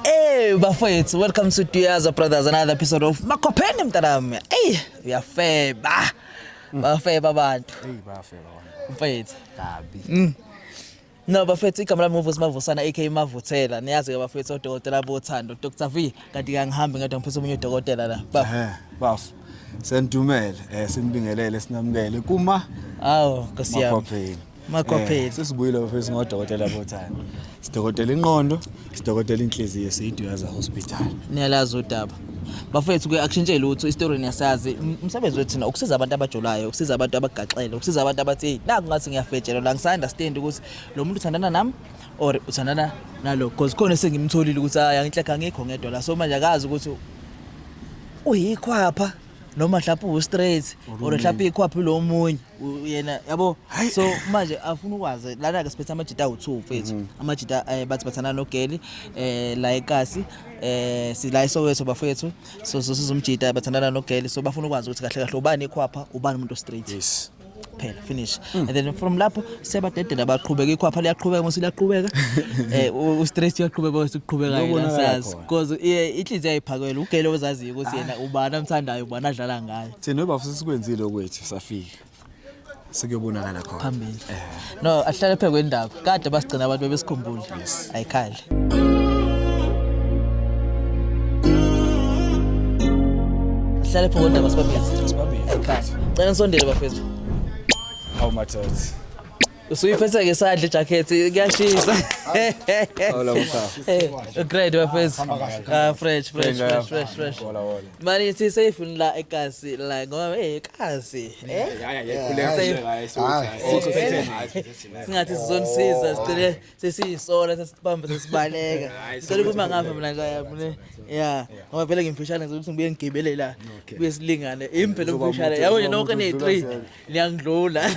Hey bafethu, welcome to Duyaza Brothers, another episode of Makopheni mntanami. Ey, uyafeba. Mm. Bafeba abantu. Ey bafeba abantu. Mfethu. Kabi. Mm. No bafethu igama lami ngovusi mavusana AK mavuthela. Niyazi ke bafethu odokotela bothando Dr. V kanti kangihambi ngadwa ngiphethe omunye udokotela la. Baf. Eh, baf. Sendumele, eh sinibingelele sinamukele kuma. Awu, nkosiyami. Makopheni. Makopheli. Eh, sesibuyile bafethu ngodokotela bothando. Sidokotela inqondo, sidokotela inhliziyo siyiduyaza hospital. Niyalazi udaba. Bafethu ke akushintshe lutho istory niyasazi. Umsebenzi wethu na ukusiza abantu abajolayo, ukusiza abantu abagaxele, ukusiza abantu abathi naku ngathi ngiyafetshela la ngisanda understand ukuthi lo muntu uthandana nami or uthandana nalo because khona sengimtholile ukuthi hayi angihlekha ngikho ngedwa la so manje akazi ukuthi uyikhwapha noma mhlawumbe uwu-straight or mhlawumbe ikhwaphi lo munye yena yabo so manje afuna ukwazi lana ke siphethe amajita awu2 mfethu mhm. amajita eh, bathi bathana nogeli eh la ekasi eh sila isowethu bafethu so sizomjita bathandana nogeli so bafuna ukwazi ukuthi kahle kahle ubani ekhwapha ubani umuntu straight yes kuphela finish mm. and then from lapho sebadedela baqhubeka ikhwapha liyaqhubeka mase liyaqhubeka eh u stress uyaqhubeka bese uqhubeka yena sazi because inhliziyo ayiphakela ugele ozaziyo ukuthi yena ubani amthandayo ubani adlala ngayo Thina ubaba sesikwenzile okwethu safika. Sekuyobonakala khona. Phambili. Eh. No, ahlale phe kwendaba. Kade basigcina abantu bebesikhumbule. Ayikhali. Ahlale phe kwendaba sibabili. Sibabili. Ayikhali. Cela nisondele bafethu. Hawu mathothi. usuyiphetha ke sadle jacket kuyashisa awula mkhaya eh grade bafethu ah fresh fresh fresh fresh fresh Manje si safe la ekasi la ngoba eh ekasi eh singathi sizonisiza sicele sesiyisola sesibamba sesibaleka sicela ukuba ngapha mina la mina ya ngoba vele ngimfishane ukuthi ngibuye ngigebele la kuye silingane impela umfishane yabo nje nonke ne 3 niyangidlula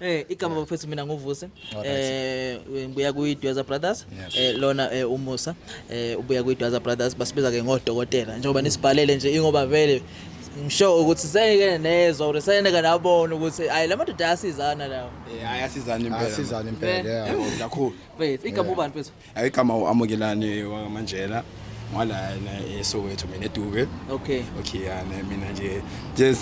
eh igama bafethu mina nguvuse eh ngibuya kuyi Dweza Brothers eh lona eh, umusa eh ubuya kuyi Dweza Brothers basibiza ke ngodokotela njengoba nisibhalele nje ingoba vele ngisho ukuthi sengike nezwa ukuthi sengike nabona ukuthi hayi la madoda ayasizana lawo eh ayasizana impela asizana impela eh, kakhulu mfethu igama ubani mfethu Ayigama uAmukelani wakaManjela ngwalana eSoweto mina eDube okay okay yana mina nje nje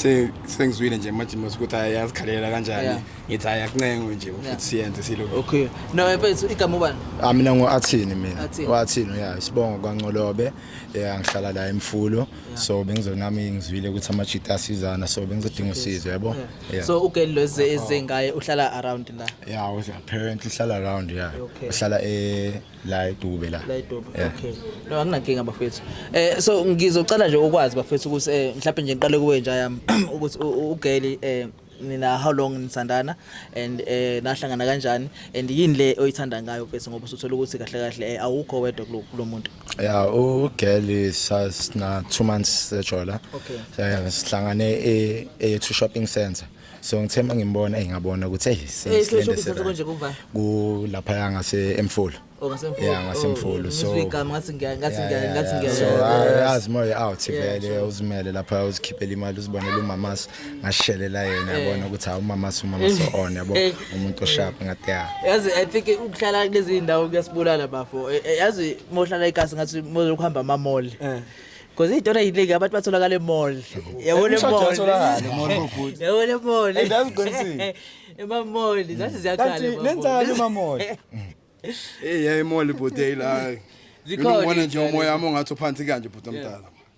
sengizwile nje manje ukuthi ayazikhalela kanjani ngithi ayakuncengo nje futhi siyenze silo okay no mfethu igama ubani ah mina ngo Athini mina wathini ya isibongo kwaNcolobe yeah ngihlala la eMfulo so bengizonami ngizwile ukuthi amajita asizana so bengizodinga usizo yabo Yeah. so ugeli lo eze eze ngaye uhlala around la Yeah, was apparently hlala around yeah. Okay. Uhlala eh la eDube la. la edobo Yeah. okay no anginankinga bafethu eh so ngizocela nje ukwazi bafethu ukuthi eh mhlawumbe nje ngiqale kuwe nje yami ukuthi u- u- ugeli eh nina how long nisandana and eh nahlangana kanjani and yini le oyithanda ngayo bese ngoba usuthola ukuthi kahle kahle eh, awukho wedwa kulo kulo muntu ya ugeli sasina two months sejola okay. Eh, sihlangane e-two shopping center so ngithe uma ngimbona engabona ukuthi eyi kulapha ngasemfulu oh, ya ngasemfulu oh, so yazi moya out vele uzimele lapha uzikhiphela imali uzibonela umamasa ngashelela yena eh. yabona ukuthi hawu mama so mama so eh. on yabo eh. umuntu osharp ngathi ya yazi i think ukuhlala kulezi ndawo kuyasibulala bafo yazi mohlala ikasi ngathi mozokuhamba ama mall because iy'tona yinike abantu batholakala emall yabona emollyabona emall emamall zathi ziyakhalenzani emamall eyi yayimall ibhoteyila hayi zikhona nje umoya wami ongathi uphansi kanje bhuti omdala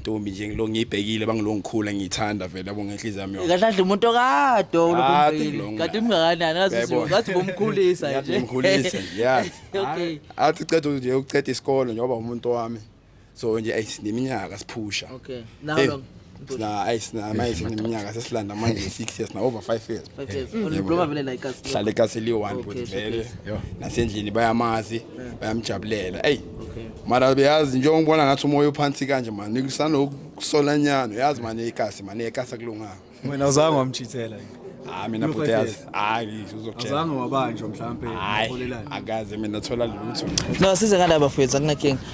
ntombi nje ngilo ngiyibhekile bangilongikhula ngiyithanda vele yabo ngenhliziyo yami yonke kahle kahle umuntu okade Kade ulokumbili ngilonga. kade umngakanani ngathi Yayibona. ngathi ubumkhulisa Yathi nje ngikhulise nje yazi okay athi ceda nje uceda isikole njengoba umuntu wami so nje ayi sineminyaka siphusha okay now Eh, long sina ayi sina manje sineminyaka sesilanda manje 6 years na over 5 years hlale kaseli one bhuti vele nasendlini bayamazi bayamjabulela eyi mara beyazi njengoba ngibona ngathi umoya uphansi kanje mani kusanokusola nyano yazi mani ikasi mani ekasi akulunganga wena uzange wamchithela hayi ah, mina bhuti yazi hayi uzokuazange wabanjwa mhlawumpe hayi akaze mina thola lutho no size ngala bafowethu akunakinga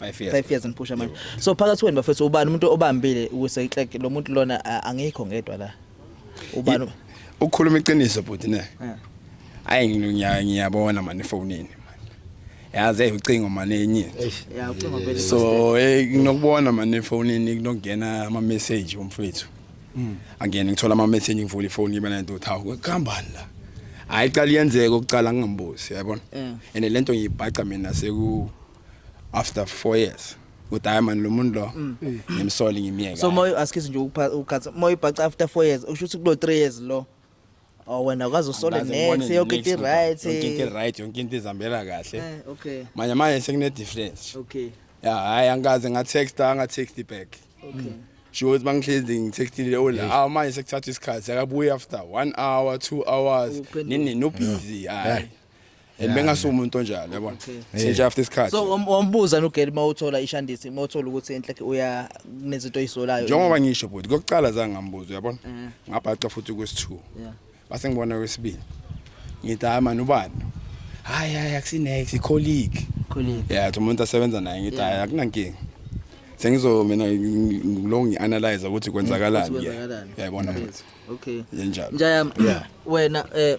5 years 5 years ngiphusha manje so phakathi kwenu bafethu ubani umuntu obambile ukuze itrack lo muntu lona angikho ngedwa la ubani ukukhuluma iqiniso bhuti ne ayi ngiyabona manje efonini yazi hey ucingo manje enye yeah ucingo vele so hey nokubona manje efonini kunokungena ama message umfethu mm. angene ngithola ama message ngivula ifoni ngibe nento uthawu kuhambani la hayi qala iyenzeka ukucala ngingambuzi yabona and lento ngiyibhaca mina seku after 4 years ukuthi hayi mani lo muntu lo mm. ngimsole ngimyeke so moyo asikhize nje ukukhatha moyo ibhaca after 4 years usho ukuthi kulo 3 years lo Oh wena kwazi usole next yonke into right yonke into right yonke into izambela kahle eh, okay manje manje sekune difference okay ya hayi angikaze nga text anga text back okay sho ukuthi bangihlezi ngitextile ola oh, awu manje sekuthatha isikhathi akabuye after 1 hour 2 hours nini no busy hayi and bengasuka umuntu onjalo yabona sinje after isikhathi so wam- wambuza nogeli uma uthola ishandisi uma uthola ukuthi enhlekhe uya kunezinto oyisolayo njengoba ngisho bhuti kokuqala zange ngambuza uyabona Eh. ngabhaca futhi kwesi-two Yeah. base ngibona kwesibili ngithi hayi mani ubani hayi hayi akusinex icolleague Colleague. ya thi umuntu asebenza naye ngithi hayi akunankinga sengizo mina ngi- ngilo ngi-analyze ukuthi kwenzakalani Ukuthi kwenzakalani. yayibona Yes. bhuti okay yenjalo njayami Yeah. wena eh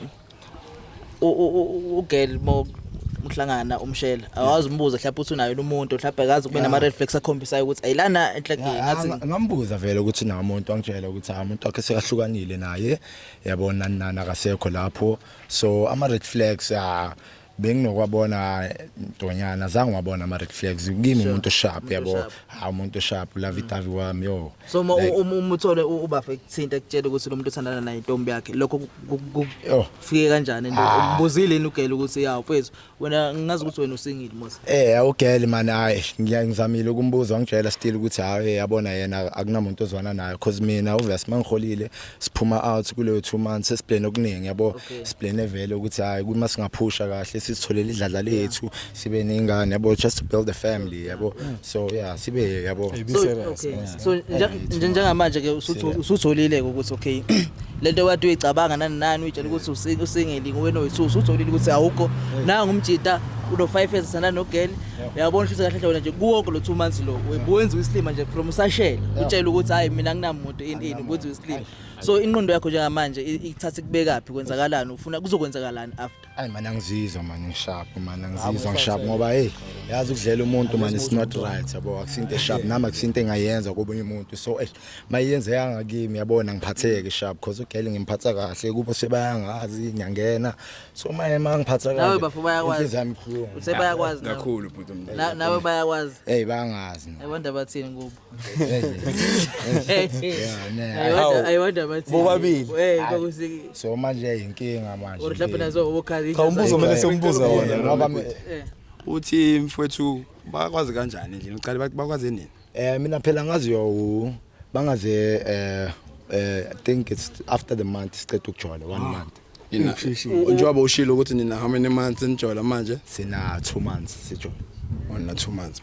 ugirl mo mhlangana umshela awazi umbuzo mhlawumbe uthi unayo umuntu mhlawumbe akazi kube nama red flags akhombisayo ukuthi ayilana enhlekeni ngathi ngambuza vele ukuthi nawo umuntu wangitshela ukuthi ha umuntu wakhe sekahlukanile naye yabona nana akasekho lapho so ama red flags ah benginokwabona ntonyana azange wabona ama red flags kimi umuntu sharp yabo ha umuntu sharp la vitavi wami yo so uma uma uthole ubafa ekuthinta ekutshela ukuthi lo muntu uthandana naye intombi yakhe lokho kufike kanjani into ah. umbuzile yini ugele ukuthi ya mfethu wena ngazi ukuthi wena usingile mos eh awugele man hayi ngiyangizamile ukumbuza wangitshela still ukuthi hayi yabona yena akunamuntu ozwana naye because mina obvious mangiholile siphuma out kuleyo two months sesiplane okuningi yabo okay. siplane vele ukuthi hayi kuma singaphusha kahle sisitholele idladla lethu yeah. sibe nengane yabo just to build a family yabo yeah. so yeah sibe yabo so, okay. yeah. so njengamanje ke usutholile ukuthi okay lento wathi uyicabanga nani nani uyitshela ukuthi usingeli nguwena oyisusu utholile ukuthi awukho nanga umjita uno 5 years sana no girl uyabona ukuthi kahle kahle wena nje kuwonke lo 2 months lo ubuwenza islima nje from usashela utshela ukuthi hayi mina nginamuntu ini ukuthi uslima so inqondo yakho njengamanje ikuthatha kubekaphi kwenzakalani ufuna kuzokwenzakalani after hayi mana ngizizwa manje ngisharp mana ngizizwa ngisharp ngoba hey yazi ukudlela umuntu manje is not right yabo akusinte sharp nami akusinte engayenza kobunye umuntu so eh mayenze yanga kimi yabona ngiphatheke sharp because ugele ngimphatha kahle kubo sebayangazi ngiyangena so maye mangiphatha kahle nawe bafu bayakwazi inhliziyo yami ibuhlungu usebayakwazi kakhulu bhuti nawe bayakwazi hey bayangazi i wonder bathini kubo bobabili so manje yayinkinga manje cha umbuzo kumele siwumbuze wona ngoba eh. uthi mfowethu bakwazi kanjani nje uqale bakwazi nini eh mina phela ngazi yo bangaze eh eh think it's after the month siqeda ukujola one ah. month Nina Ngishishile. njengoba ushilo ukuthi nina how many months nijola manje? sina 2 months sijola Ona 2 months.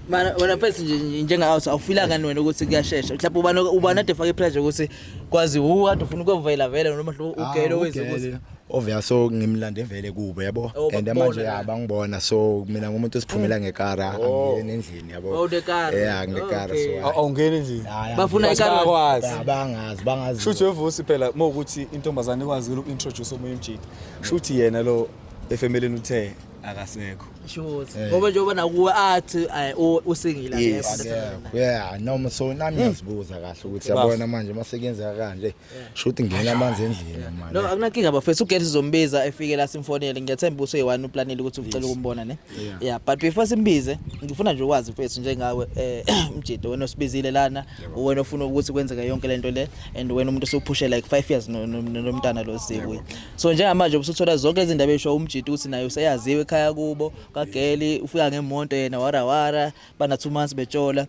Mana wena first nje nje- njengawe so awufila ngani wena ukuthi kuyashesha. Mhlawumbe ubani ubani ade fake pressure ukuthi kwazi hu kade ufuna ukuvela vele noma hlo ugele wenze ukuthi ovela so ngimlande vele kubo yabo Oh, and bakubona manje la. abangibona so mina ngumuntu osiphumela ngekara angiyeni endlini yabo Oh, the car. yeah ngekar Okay. so Aw- awungeni nje Hhayi, Bafuna angeke. ikar- Bakwazi. Ya, bangazi bangazi shuthi wevusi phela uma ukuthi intombazane ikwazile uku-introduce omunye umjita shuthi yena lo efemeleni uthe akasekho Sure. Ngoba njengoba nakuwe athi ay, u- usingile Yes. akekho. Akekho. yeah noma so nami ngiyazibuza kahle ukuthi Bafo. yabona manje uma sekuyenzeka kanje Shuthi ngena amanzi endlini manje. No akunankinga bafethu ugesi zombiza efike la simfonele ngiyethemba uso yiwani uplanele ukuthi ucela ukumbona ne. Yeah but before simbize ngifuna nje ukwazi mfethu njengawe eh mjito wena osibizile lana wena ofuna ukuthi kwenzeke yonke lento le and wena umuntu osuphushe like 5 years nomntana lo sikuye. So njengamanje ubusuthola zonke izindaba esho umjito ukuthi naye useyaziwe ekhaya kubo kageli ufika ngemonto yena wara wara bana 2 months betshola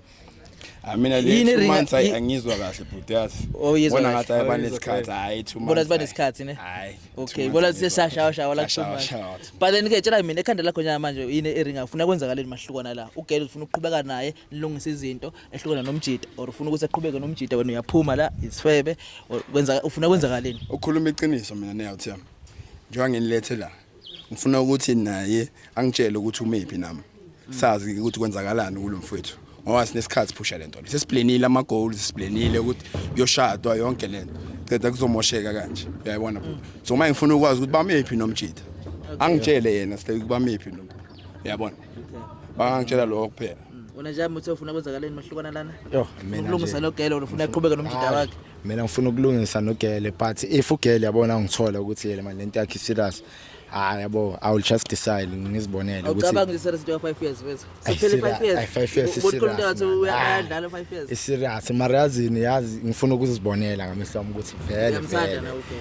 I mean, at least two months I angizwa kahle bhuti yazi. Oh yes. Bona ngathi ayeba nesikhathi hayi two months. Bona siba nesikhathi ne? Hayi. Okay, bona sesashawa shawa la two months. But then ke tshela mina ekhanda lakho nyama manje yini ering afuna kwenzakaleni mahlukwana la. Ugele ufuna ukuqhubeka naye nilungise izinto ehlukana nomjita or ufuna ukuthi aqhubeke nomjita wena uyaphuma la isifebe or kwenza ufuna kwenzakaleni. Ukhuluma iqiniso mina ne out yami. Njengoba nginilethe la. ngifuna ukuthi naye angitshele ukuthi umephi nami sazi ukuthi kwenzakalani kulo mfowethu ngoba sinesikhathi phusha lento le sesiblenile ama goals siblenile ukuthi yoshadwa yonke lento ceda kuzomosheka kanje uyayibona bhuti so manje ngifuna ukwazi ukuthi bamephi nomjita angitshele yena sile kubamephi nomjita yabona bangangitshela lokho kuphela wena nje muthe ufuna kwenzakaleni mahlukana lana Yoh, mina ukulungisa nje. nogele wena ufuna aqhubeke nomjida wakhe mina ngifuna ukulungisa nogele but if ugele yabona ngithola ukuthi yele manje lento yakhe serious hayi yabo i will just decide ngizibonele ukuthi awucabangi ukuthi serious into ya 5 years wethu Ay, sophele serious. 5 years Ay, five years, Ubona ukhuluma serious, ngathi man. uya- Ay. bayadlala 5 years iserious mara yazini yazi ngifuna ukuzibonela ngamehlo ami ukuthi vele Uyamthanda vele na ugele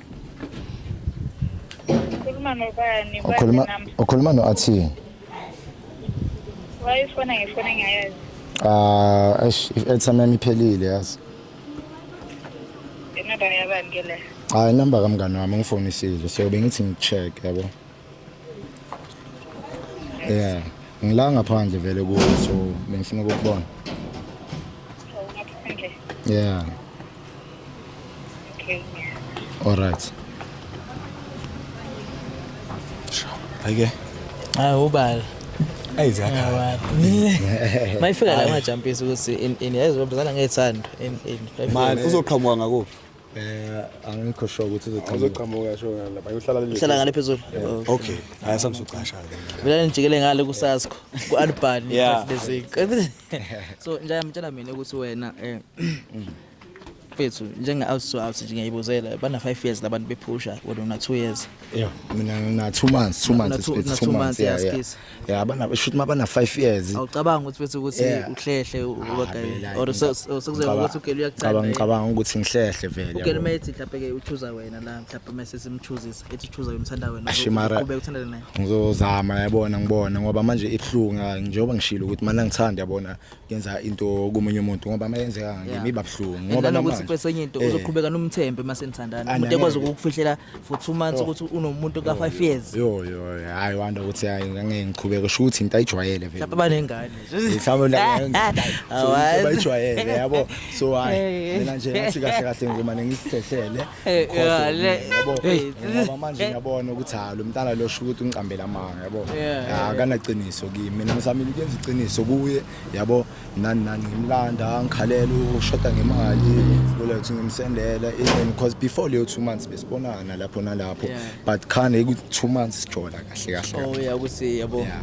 Ukhuluma nobani? Ukhuluma ukhuluma no Athi. Wayifona ngefona ngiyayazi. Ah, eish, i-airtime yami iphelile yazi. Inamba yabani ke le? Hayi number kamngani wami ngifonisile so bengithi ngicheck yabo. Yeah. Ngila ngaphandle vele kuwe so bengifuna ukukubona. Yeah. Okay. All right. Ayike. Hayi ubala. Ayizakhala. Mayifika la majampisi ukuthi in in yazi babuzana ngethando in in. Manje uzoqhamuka ngakuphi? Eh angikho sure ukuthi uzoqhamuka. Uzoqhamuka yasho ngala. Bayohlala le. Uhlala ngale phezulu. Okay. Hayi samsucasha ke. Mina ngijikele ngale kusaskho ku Alban basic. So nje ngitshela mina ukuthi wena eh mfethu njenga out so out nje ngiyibuzela bana 5 years labantu bephusha wena una 2 years. Yeah, mina ngina 2 months, 2 months, 2 months. Yeah, yeah. yeah abana shuthi mabana 5 years awucabanga ukuthi bese ukuthi uhlehle ah, ubagayela or sekuzoba ukuthi ugele uyacabanga cabanga cabanga ukuthi ngihlehle vele ugele mayithi mhlawumbe ke uchuza wena la mhlawumbe mase simchuzisa ethi uchuza umthanda wena ube uthanda naye ngizozama yabona ngibona ngoba manje ibhlunga njengoba ngishilo ukuthi mana ngithanda yabona yenza into komunye umuntu ngoba mayenzeka Yeah. ngimi babuhlungu ngoba ngoba nokuthi namanje kwesenye into Eh. uzoqhubeka nomthembe uma senithandana Ah, umuntu nangeke. ekwazi ukukufihlela for two months Oh. ukuthi unomuntu ka-five years yo yo hayi wanda ukuthi hayi ngangeke ngiqhubeke sho ukuthi into ayijwayele vele mhlawumbe banengane mhlawumbe la- so, into bayijwayele yabo so hayi Eh. mina nje ngathi kahle kahle ngizomane ngisihlehlele Eh, yeah, le- yabo Hey. ngoba manje ngiyabona ukuthi ha lo mntana lo sho ukuthi ungiqambela amanga yabo Yeah, yeah, akanaqiniso kimi mina ngisamile ukuyenza iqiniso kuye yabo nani nani ngimlanda ngikhalela ushoda ngemali loleyo ukuthi ngimsendela even because before leyo two months besibonana lapho nalapho Yeah. but khane ku-two months sijola kahle kahle Oh, yeah, ukuthi yabo. Yeah.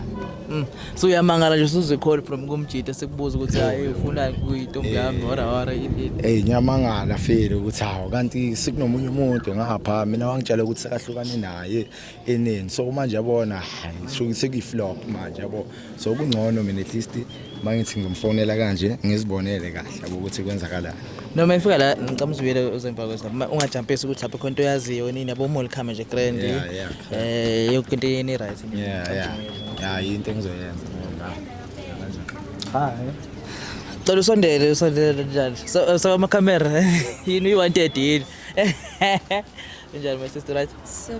Mm. So uyamangala nje usuzwe call from kumjita sekubuza ukuthi hayi ufuna kuyintombi yami or or yini. Hey ngiyamangala file ukuthi hawo kanti sikunomunye umuntu ngapha mina wangitshela ukuthi sekahlukane naye eneni so manje yabona hayi sho sekuyiflop manje yabo so kungcono mina at least mangithi ngimfonela kanje ngizibonele kahle ukuthi kwenzakalani noma ngifika la ngicela uzibuyele uzemva kwesa ungajampisi ukuthi lapho khonto yaziyo nini yabo mall khama nje grand eh yonke into yeni right yeah yeah yeah into engizoyenza hayi cela usondele usondele njalo so so ama camera yini uyi 130 yini Unjani my sister right?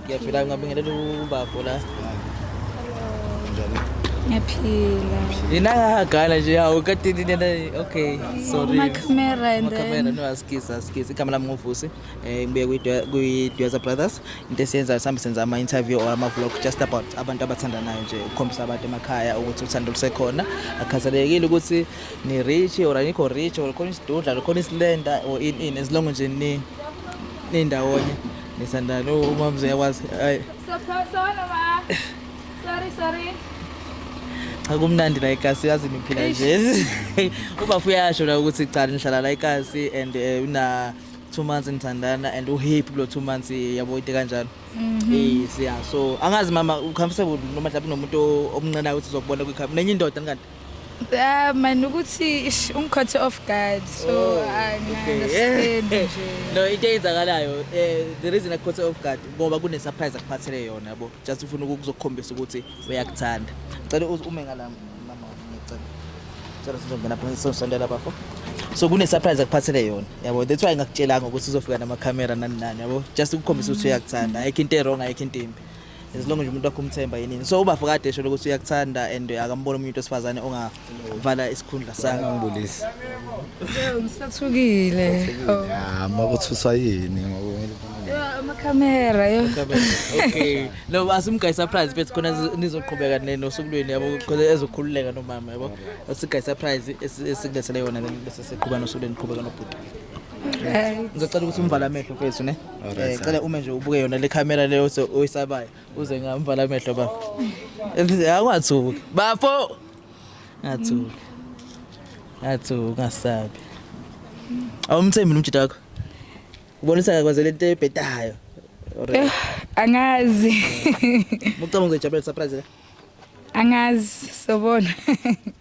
Ngiyaphila ngabingelela ubafo la. Ngiyaphila. Yena ngagana nje hawu kade nina okay sorry. Uma camera and then. Camera no askisa askisa igama lami ngovusi eh ngibuye kwi kwi Dweza Brothers into esiyenza sambe senza ama interview or ama vlog just about abantu abathandanayo nje ukukhombisa abantu emakhaya ukuthi uthando lusekhona akhathalekile ukuthi ni rich or anikho rich or khona isidudla khona isilenda or in in as long nje ni nindawonye nisandana umamzi uyakwazi hayi sorry sorry cha kumnandi la ikasi yazi niphila nje ubafu uyasho la ukuthi cha nihlala la ikasi and eh, una two months nithandana and uhappy kulo two months eh, yabo into kanjalo mhm. yes yeah so angazi mama ucomfortable noma mhlawumbe nomuntu omncenayo ukuthi uzokubona kwi-camera nenye indoda ngikade Ah man ukuthi ish, ungikhothe off guard so Oh, I okay. understand nje. no into eyenzakalayo eh, the reason akukhothe off guard ngoba kunesurprise akuphathele yona yabo just ufuna ukuzokukhombisa ukuthi uyakuthanda cela uze ume ngala mama ngicela cela sizongena phakathi sizosondela bafo so kunesurprise akuphathele yona yabo that's why ngakutshelanga ukuthi uzofika namakhamera nani nani yabo just ukukhombisa ukuthi uyakuthanda ayikho into erong ayikho into embi as long nje umuntu wakho umthemba yini so uba fokade esho ukuthi uyakuthanda and akambona umuntu osifazane ongavala isikhundla sakhe ngibulisi ngisathukile ya makuthuswa yini amakhamera yo okay no asimgayi surprise bethu khona nizoqhubeka nosukulweni yabo khona ezokhululeka nomama yabo asigayi surprise esikulethele yona bese siqhubana nosukulweni qhubeka nobhuti ngizocela ukuthi umvala amehlo kwethu ne Eh cela ume nje ubuke yona le camera leyo so oyisabayo uze ngamvala amehlo bafo. Akungathuki. Bafo. Ngathuki. Ngathuki ngasabi. Awumthembi umjita wakho. Ubonisa kakwazela into ebhedayo. Eh, angazi. Mucabanga uzojabulela surprise la? Angazi sobona.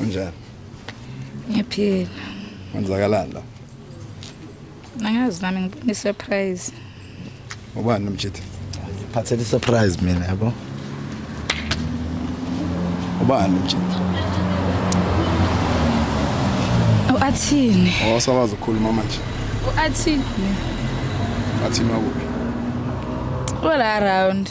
Unjani? Ngiyaphila. Kwenzakalani la? Angazi nami ngibona surprise. Ubani nomjitha? Phathele surprise mina yabo. Ubani nomjitha? Uathini. Awasakwazi oh, ukukhuluma manje. Uathini. Athini wakuphi? All around.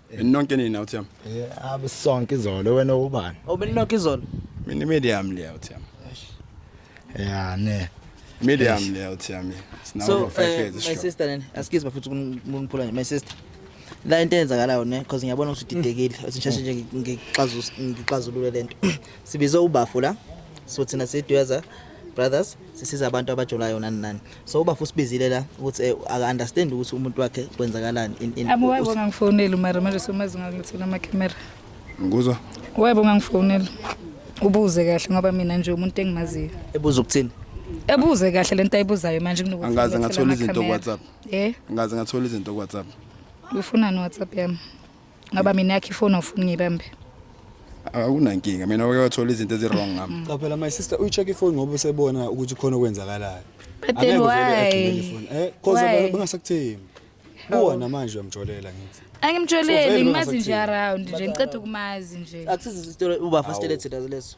Nonke nina uThemba. Yeah, abe sonke izolo wena ubani? Obelinonke izolo. Mina medium leya uThemba. Yeah, ne. Medium leya uThemba. Sinawo So, five eh, years my sure. sister nene, excuse bafuthu kuniphula nje, my sister. La into eyenzakalayo ne because ngiyabona ukuthi udidekile, uthi ngisheshe nje ngixazulule lento. Sibize ubafo la. So thina sidweza brothers sisiza abantu abajolayo nani nani so uba fusibizile la ukuthi eh, aka understand ukuthi umuntu wakhe kwenzakalani in in Abu webo ngangifonela mara manje somazi ngakuthola ama camera. ngikuzwa Webo ngangifonela. Ubuze kahle ngoba mina nje umuntu engimaziyo. ebuza ukuthini Ebuze kahle lento ayibuzayo manje kunokuthi. Angikaze ngithole ngathola izinto ama-camera. ku-WhatsApp. Eh, ngikaze ngathola izinto ku-whatsapp ufunani WhatsApp yami? ngoba mina yakhe ifoni ofuni ngibambe akunankinga mina uke wathola izinto ezi-wrong ngami mm. qaphela my sister uyi-check ifoni ngoba usebona ukuthi khona okwenzakalayo but then why eh cause abantu bangasakuthembi kuwona manje uyamjolela ngithi angimjoleli ngimazi nje around nje ngiceda ukumazi nje akusizi story uba fastelete leso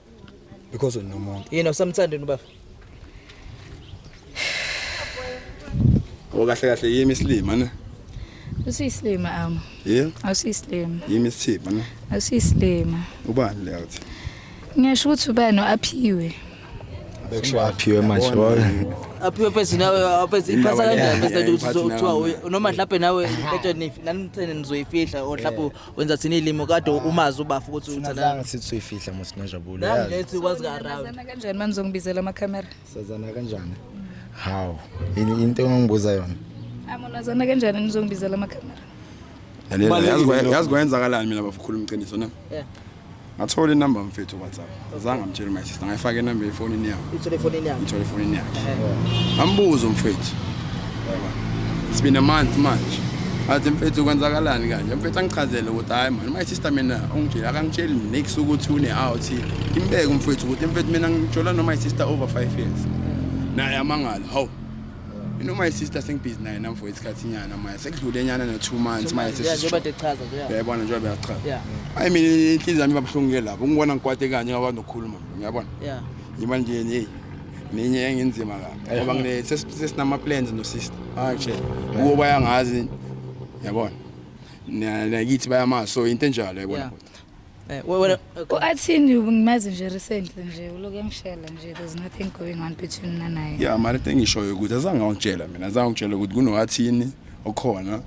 because unomuntu yini usamthandeni ubaba okahle kahle yimi isilima ne usiyisilima am yeah awusiyisilima yimi isithipa ne awusiyisilima ubani le uthi ngiyasho ukuthi ubani aphiwe bekusho aphiwe manje aphiwe phezu nawe aphezu iphasa kanjani bese uthi kuthiwa noma mhlawumbe nawe betsheni nani nithene nizoyifihla or mhlawumbe wenza thina ilimo kade umazi ubafu ukuthi Thina uthanda zange sithi suyifihla musi nojabule yazi nangilethi kwazi ka around Sazana kanjani manje ngibizela ama camera? sazana kanjani hawu yini into engangibuza yona Amonazana kanjani nizongibizela ama camera? Lalela, Kubalulekile yazi kwa- lokho. yazi kwayenzakalani mina bafukhuluma iqiniso na Yeah. ngathola inamba mfethu whatsapp azange amtshele my sister ngayifaka inamba efonini yami ithole efonini yami ngithole efonini yakhe ngambuza umfethu yaba it's been a month manje athi mfethu kwenzakalani kanje mfethu angichazele ukuthi hayi mani my sister mina ungitshela akangitsheli next ukuthi une-out imbeke umfethu ukuthi mfethu mina ngitshola no-my sister over five years naye amangala hawu You know my sister sengibhizi naye nam for isikhathi nyana manje sekudlule nyana no-two months manje njengoba sesisho techaza nje ya. yayibona njengoba beyachaza Yeah. ayi mina inhliziyo yami ibabuhlungu ke lapho ungibona ngikwate kanye ngakwazi nokukhuluma ngiyabona Yeah. ngiba nje hey nenye engenzima kabi ngoba ngine ses- sesinama-plans nosister manje kuwo bayangazi yabona Na- nakithi bayamazi so into enjalo yayibona Yeah. Eh, wena uAthini ngimazi nje recently nje uloke ngishela nje there's nothing going on between mina naye yeah mara into engishoyo ukuthi azange awutshela mina azange awutshela ukuthi kunoAthini okhona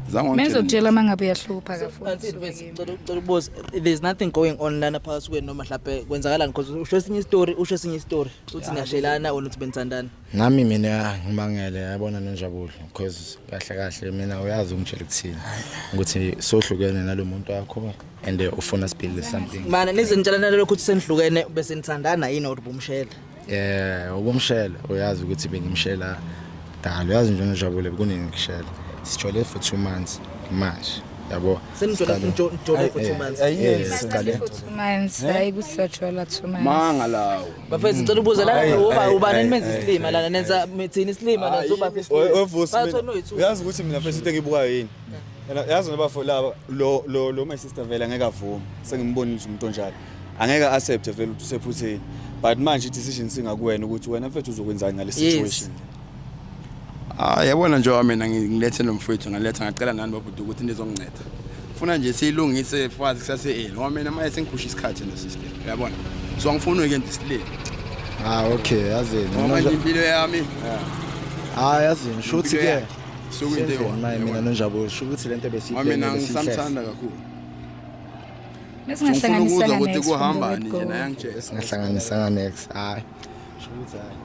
azange mina ngizokutshela uma ngabe uyahlupha kafuthi boss there's nothing going on lana phakathi kwenu noma mhlawumbe kwenzakalani because usho esinye story usho esinye istory uthi niyashelana or uthi benithandana nami mina ngimangele yabona nonjabulo because kahle kahle mina uyazi ungitshela ukuthini ukuthi sohlukene nalomuntu wakho and uh, ufuna siphile something mana nizintshelana lokho ukuthi senihlukene bese nithandana yini or ubumshela eh ubumshela uyazi ukuthi bengimshela dalo uyazi nje ngijabule kuningi ngishela sijole for 2 months manje yabo senijole njole for 2 months ayike siqale 2 months hayi kusajwala 2 months manga lawo bafethu ngicela ubuza la uba ubani menza isilima lana nenza mithini isilima nazoba isilima uyazi ukuthi mina mfethu into engibukayo yini Yena yazi ngoba for laba lo lo lo my sister vele angeke avume. Sengimbonile ukuthi umuntu onjalo. Angeke accept vele ukuthi usephutheni. But manje i-decision singakuwena ukuthi wena mfethu uzokwenzani ngale situation. Ah yabona nje mina ngilethe lo mfowethu ngaletha ngacela nani babhuti ukuthi nizonginceda. Funa nje siyilungise fazi kusase eli ngoba mina manje sengiphusha isikhathi no sister. Yabona. So angifuni ke nje silele. Ah okay yazini. Ngoba nje impilo yami. Ah yazini shuthi ke. sokuyinto eyi-one. Maye mina nonjabulo sho ukuthi lento Ngoba mina besiyibhekile ngisamthanda kakhulu Ngifuna ukuzwa ukuthi kuhambani nje naye angitshele singahlanganisanga next hayi sho ukuthi hayi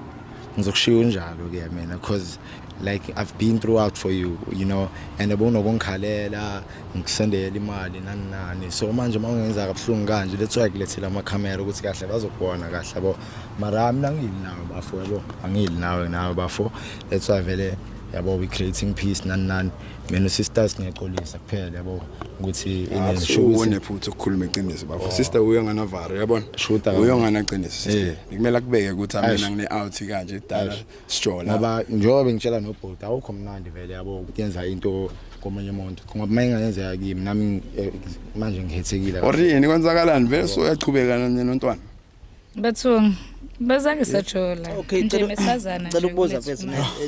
ngizokushiya unjalo ke mina cause like i've been throughout for you you know and ubunokungikhalela ngikusendela imali nani nani so manje uma ungenza kabuhlungu kanje that's why kulethela amakhamera ukuthi kahle bazokubona kahle yabo mara mina angiyili nawe bafo yabo angiyili nawe nawe bafo that's why vele yabo we creating peace nani nani mina usisters ngiyaxolisa kuphela yabo ukuthi inenshubone futhi ukukhuluma iqiniso bafo oh. sister uyo ngana varo yabona shuta uyo ngana qiniso sister eh. ngikumela kubeke ukuthi mina ngine out kanje dala sijola ngoba njengoba ngitshela no bot awukho mnandi vele yabo kuyenza into komunye umuntu ngoba uma ingayenzeka kimi nami eh, manje ngihethekile or yini kwenzakalani vele so uyachubeka nontwana Bathong bazange sathola okay nje cela mesazana cela ukubuza mfethu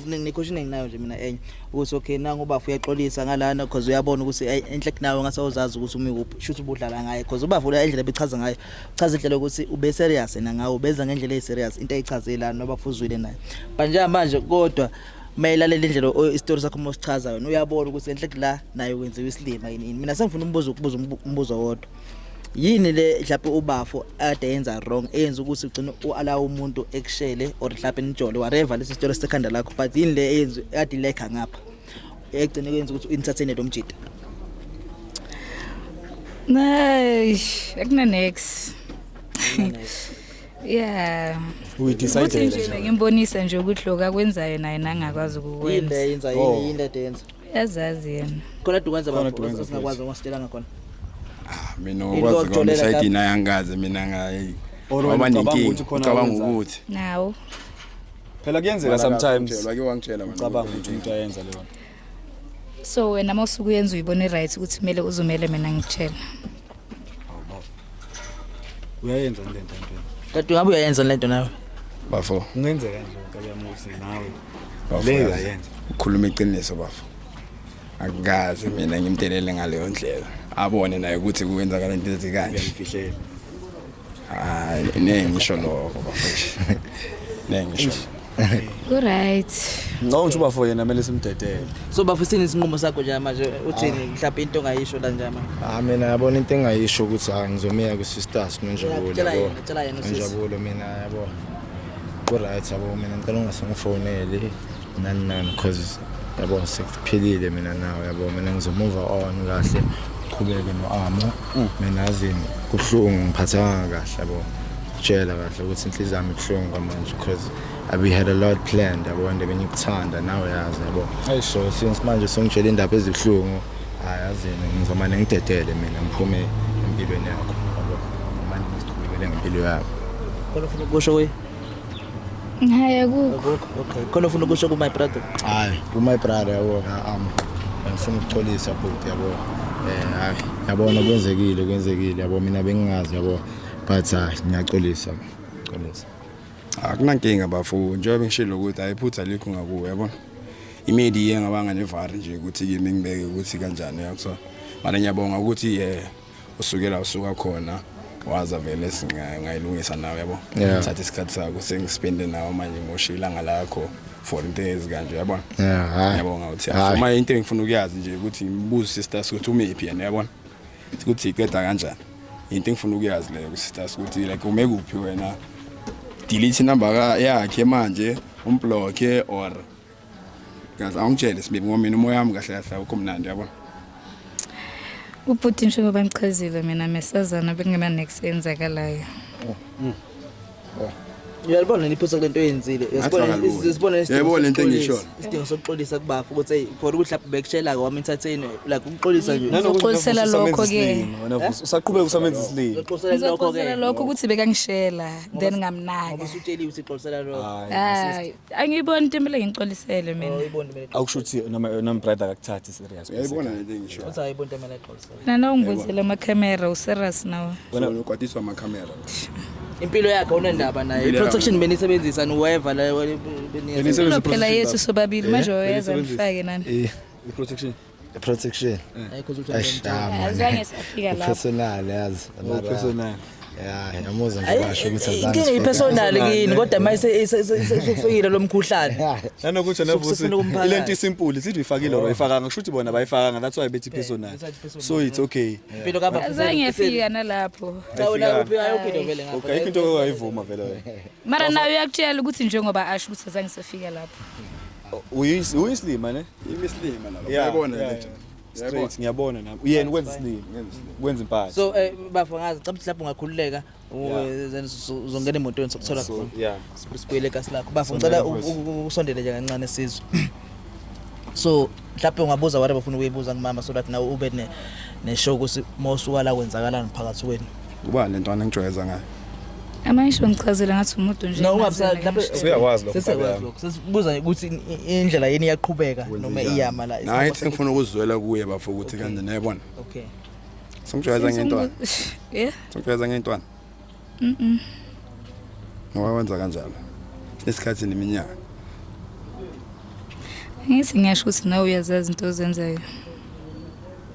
nikhoshi iningi nayo nje mina enye ukuthi okay nangu ubafu uyaxolisa ngalana because uyabona ukuthi eh, enhle kunawe ngase uzazi ukuthi umi kuphi shuthi ubudlala ngaye because ubafu la indlela bechaza ngayo chaza indlela ukuthi ube serious yena ngawe ubeza ngendlela ey serious into ayichazela noba fuzwile naye but njengamanje kodwa mayilalela indlela isitori sakho mosichaza yona uyabona ukuthi enhle kula naye wenziwa isilima yini mina sengifuna umbuzo ukubuza umbuzo wodwa yini le mhlawumbe ubafo ade yenza wrong eyenza ukuthi ugcine uala umuntu ekushele or mhlawumbe nijole whatever lesi sitolo sekhanda lakho but yini le eyenza ade lekha ngapha egcine kwenza ukuthi inithathene lo mjita Nay, ekuna next. Yeah. We Ukuthi decided. nje ngimbonisa nje ukuthi lokho akwenzayo naye nangakwazi yini ukukwenza. le yenza yini yini le yenza yazazi yena khona dukwenza Khona bafo Dukwenza singakwazi futhi. ungasitshelanga khona Ah, mina Into okwazi kwami otholele side lapho. ina yangazi mina ngayi Or wena waba ucabanga nenkinga ukuthi khona ucabanga owenzayo? ukuthi nawo phela kuyenzeka sometimes Ngitshela, wake wangitshela wena ucabanga ukuthi ukuthi umuntu ayenza leyo nto so wena uma usuke uyenza uyibone right ukuthi kumele uzumele mina ngitshela uyayenza le nto ntweni Tatu ngabe uyayenza le nto nawe. bafo kungenzeka nje nkabiyamuzi nawe bafo le yazi, uyayenza ukhuluma iqiniso bafo akukazi mina ngimdelele ngaleyo ndlela abone naye ukuthi kuwenzakala into ezikanje uyangifihlela hayi ne ngisho lokho bafethu ne ngisho Uright. Ngicabanga ukuthi ubafo yena kumele simdedele. So bafo sini isinqumo sakho nje manje uthini mhlawumbe into ongayisho la nje manje. Ah mina yabona into engayisho ukuthi hayi ngizomiya ku sisters nonjabulo. Tshela yena, tshela yena usisi. Nonjabulo mina yabona. Ku right yabo mina ngicela ungasengifoneli. nani nani cause yabo sekuphilile mina nawe yabo mina ngizomuva on kahle uqhubeke no-amo mm. mina azini kuhlungu ngiphathanga kahle yabo tshela kahle ukuthi inhliziyo yami ibuhlungu kwamanje because we had a lot planned yabo and bengikuthanda nawe yazi yabo so since manje songitshela indaba ezibuhlungu hayi azini ngizomane ngidedele mina ngiphume empilweni yakho yabo manje ngiziqhubekele ngempilo yami kodwa ufuna ukusho kuye Hayi akukho. Okay. Khona ufuna ukusho ku my brother. Hayi, ku my brother yabo am. Ngifuna ukuxolisa bhuti yabo. Eh hayi, yabona kwenzekile kwenzekile yabo mina bengingazi yabo. But hayi ngiyaxolisa. Xolisa. Akunankinga bafu njengoba ngishilo ukuthi ayiphutha likho ngakuwe yabona. Imedi iye ngabanga nevar nje ukuthi kimi ngibeke ukuthi kanjani yakho. Mara ngiyabonga ukuthi eh usukela usuka khona waza vele singayilungisa nawe yabo yeah. thatha isikhathi sakho sengispende nawe manje ngosho ilanga lakho for into ezikanje yabona yeah, yabonga uthi uma into engifuna ukuyazi nje ukuthi ngibuze sister ukuthi umephi yena yabona ukuthi iqeda kanjani into engifuna ukuyazi leyo sister ukuthi like ume kuphi wena delete number yakhe manje umblock or Kaze awungitshele sibibi ngoba mina umoya wami kahle kahle awukho mnandi yabo. Ubhuti nje ngoba ngichazile mina mesazana bekungena next enzakalayo. Uyalibona niphusa kulento oyenzile. Uyasibona Ngathi bakalula. isibona Yebo, lento engishoyo. Isidingo sokuxolisa kubafu ukuthi hey for ukuthi lapho bekushela kwami entertain like ukuxolisa nje. Nanokuthi Uxolisela uvusa lokho amenza ke. isilima, wena vusa. Usaqhubeka usamenza isilima Uxolisela lokho Ngizoxolisela ke. lokho ukuthi bekangishela then ngamnaka. Usutsheliwe ukuthi uxolisela lokho. Hayi. angiyiboni into emele ngixolisele mina awukusho ukuthi noma noma brother akakuthathi serious yayibona le nto engisho uthi ayibona into emele exolisele mina nawungibuzele amakhamera userious nawe wena unokwatiswa amakhamera impilo yakhe unendaba naye i-protection benisebenzisa niweva la benisebenzisa phela yethu sobabili manje wayeza ngifake nani i-protection protection hayi cause uthi Eish, ah, man. Azange safika lapho. personal yazi mara- personal. ya yamuzwa nje basho ukuthi azange inkinga siphele. ipersonal kini kodwa ma sesufikile lo mkhuhlane nanokuthi Sifuna navusi ukumphakathi. ile nto isimpuli sithi uyifakile or ayifakanga kusho ukuthi bona abayifakanga that's why bethi personal that's why it's personal. so it's okay impilo kaba Azange afika nalapho. cha wena uphi ayophinde vele ngapha okay ayikho into ongayivuma vele wena mara nayo uyakutshela ukuthi njengoba asho ukuthi azange safika lapho uyisilima ne imisilima nalo uyabona yeah, yeah. straight ngiyabona nami uyena ukwenza isilima ukwenza impahla so eh, bafo ngazi cabthi mhlawumbe ungakhululeka then uzongena emotweni sokuthola khona yeah sibuyele kasi lakho bafo ngicela usondele nje kancane sizwe so mhlawumbe ungabuza whatever ufuna ukuyibuza kumama so that nawe ube ne ne show ukuthi mosuka la kwenzakalani phakathi kwenu Kuba le ntwana engijwayeza ngayo. Amayisho ngichazela ngathi umuntu nje. No, wabsa lapho siyakwazi lokho. Sesiyakwazi lokho. Sesibuza ukuthi indlela yini iyaqhubeka noma iyama la. Hayi ngifuna ukuzwela kuye bafo ukuthi kanti nayibona. Okay. Songijwayeza ngentwana. Yeah. Songijwayeza ngentwana. Mhm. Ngoba wenza kanjalo. Nesikhathi neminyaka. Ngithi ngiyasho ukuthi nawe uyazazi into ozenzayo.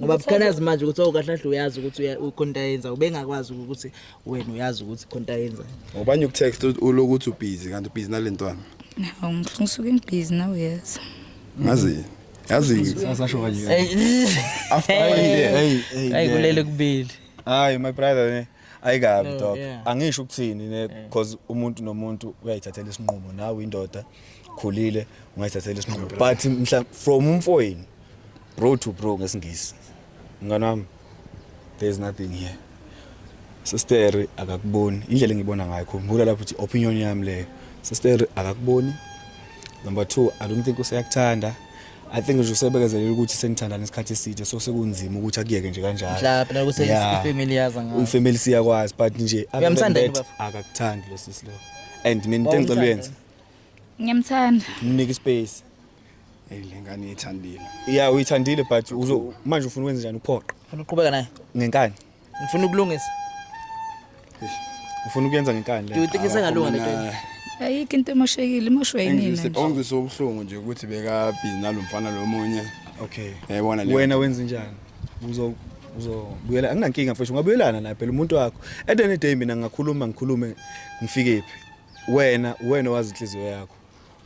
ngoba bukhanazi manje ukuthi awukahle oh, kahle uyazi ukuthi ukhonta yenza ubengakwazi ukuthi wena uyazi ukuthi khonta yenza ngobanye ukutext ulokuthi ubhizi kanti ubhizi nalentwana hawu ngisuke ngibhizi nawe yes ngazi yazi sasasho kanje after hey hey kulele kubili hayi my brother ne ayikabi oh, dog angisho ukuthini ne because umuntu nomuntu uyayithathela isinqumo nawe indoda khulile ungayithathela isinqumo but mhla from umfoyini Bro to bro ngesingisi. Mngane wami there is nothing here. Sister akakuboni indlela engibona ngayo khumbula lapho ukuthi opinion yami leyo. Sister akakuboni. Number 2 I don't think useyakuthanda. I think nje usebekezelela ukuthi senithandana isikhathi eside so sekunzima ukuthi akuyeke nje kanjalo. Mhlawumbe la ukuthi ifamily yaza ngayo. Ifamily siyakwazi but nje akakuthandi lo sisi lo. And mina into engicela uyenze. Ngiyamthanda. Mnike space. Hey lengane yethandile. Yeah uyithandile but uzo manje ufuna ukwenza njani uphoqa? Ufuna uqhubeka naye? Ngenkani. Ngifuna ukulungisa. Ufuna ukuyenza ngenkani le. Do you think isengalunga lento? Ayikho into emoshekile, imoshwe yini manje? Ngizobongisa ubuhlungu nje ukuthi beka busy nalomfana lomunye. Okay. Yayibona le. Wena wenza njani? Uzo uzobuyela anginankinga mfethu ungabuyelana naye phela umuntu wakho at any day mina ngakhuluma ngikhulume ngifikephi wena wena wazi inhliziyo yakho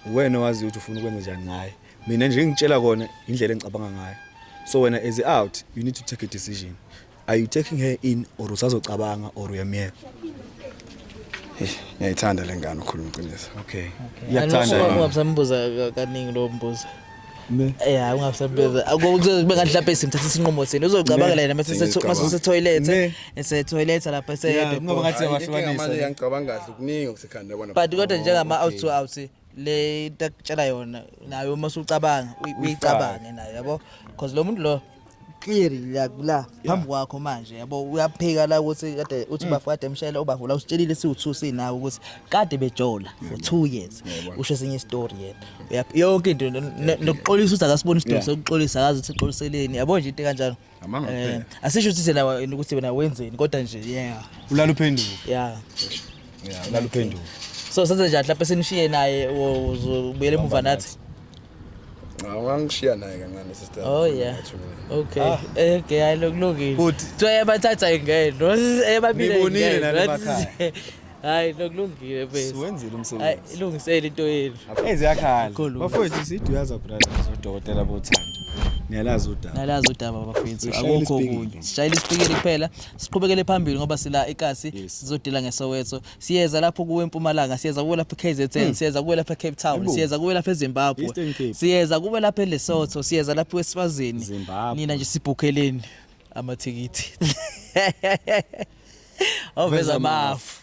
uwena owaziyo ukuthi ufuna ukwenza njani ngaye mina nje ngitshela kona indlela engicabanga ngayo so wena as out you need to take a decision are you taking her in or usazocabanga or uyamyeka ngiyayithanda le ngane ukhuluma iqiniso okay iyakuthanda ungambuza kaningi lo mbuzo ne eh hayi ungasebeza akuzobe ngathi lapha isimthatha isinqumo sini uzocabangela yena mase se toilet ese toilet lapha ese ngoba ngathi yabahlukanisa manje ngicabanga kahle kuningi okusekhanda bona but kodwa njengama out to out le takutshela yona nayo uma usucabanga uyicabange nayo yabo because lo muntu lo clear la kula phambi kwakho manje yabo uyaphika la ukuthi kade uthi bafu kade emshayela ubavula usitshelile siwuthusi nawe ukuthi kade bejola for 2 years usho esinye story yena Uyap- yonke into no- no- nokuxolisa ukuthi akasiboni isidingo Yeah. sokuxolisa akazi ukuthi uxoliseleni yabo nje into kanjalo Amanga Eh, kuphela. asisho ukuthi thina wena ukuthi wena wenzeni kodwa nje yeah ulala uphenduka yeah ulala uphenduka so senze njani mhlawumbe sinishiye naye uzobuyela emuva nathi Ngangishiya naye kancane sister. Oh yeah. Okay. Ah. Eh, okay, hayi lokulungile. Bhuti. Kuthiwa yabathatha ingeno. Eyababili ingeno. Nibonile nani emakhaya. Hayi lokulungile bese. Siwenzile umsebenzi. Hayi ilungisele into yenu. Enze yakhala. Bafowethu sithi uyaza brothers udokotela bothando. Niyalazi udaba. Niyalazi udaba bafethu. Akukho okunye. Sishayile isipikili kuphela. Siqhubekele phambili ngoba sila ikasi sizodila ngeSoweto. siyeza lapho kuwe eMpumalanga siyeza kuwe lapha eKZN hmm. siyeza kuwe lapha eCape Town siyeza kuwe lapha eZimbabwe siyeza kuwe lapha eLesotho siyeza lapha eSwazini nina nje sibhukheleni amathikithi oveza mafu